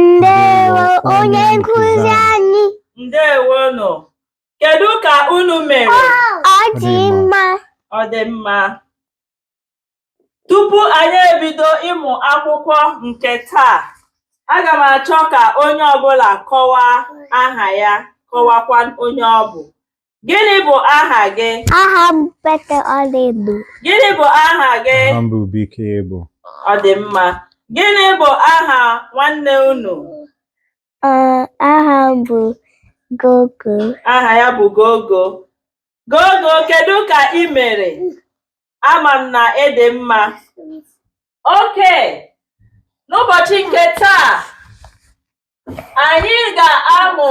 Ndewo onye nkụzi anyị. Ndewo nụ. Kedu ka unu mere? Ọ dị mma. Ọ dị mma. Tupu anyị ebido ịmụ akwụkwọ nke taa, aga m achọ ka onye ọbụla kọwaa aha ya, kọwakwa onye ọ bụ. Gịnị bụ aha gị? Aha m bụ Ọlaedo. Gịnị bụ aha gị? Aha m bụ Bekee Ebo. Ọ dị mma. Gịnị bụ aha nwanne unu? Ee, aha m bụ Gogo. Aha ya bụ Gogo. Gogo, kedu ka ị mere? Ama m na ị dị mma. Okay, n'ụbọchị nke taa, anyị ga-amụ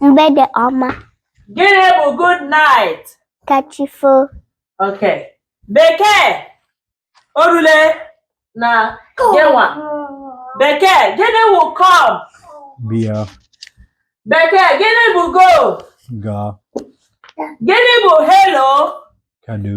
Mgbede ọma. Gịnị bụ good night? Kachifo. Ok. Bekee o rule na gịnwa. Bekee gịnị bụ come? Bịa. Bekee gịnị bụ go? Gaa. Gịnị bụ hello? Kedu.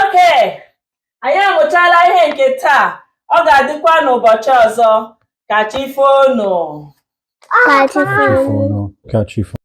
okay anyị amụchala ihe nke taa ọ ga-adịkwa n'ụbọchị ọzọ ka chi foonu ka chi foo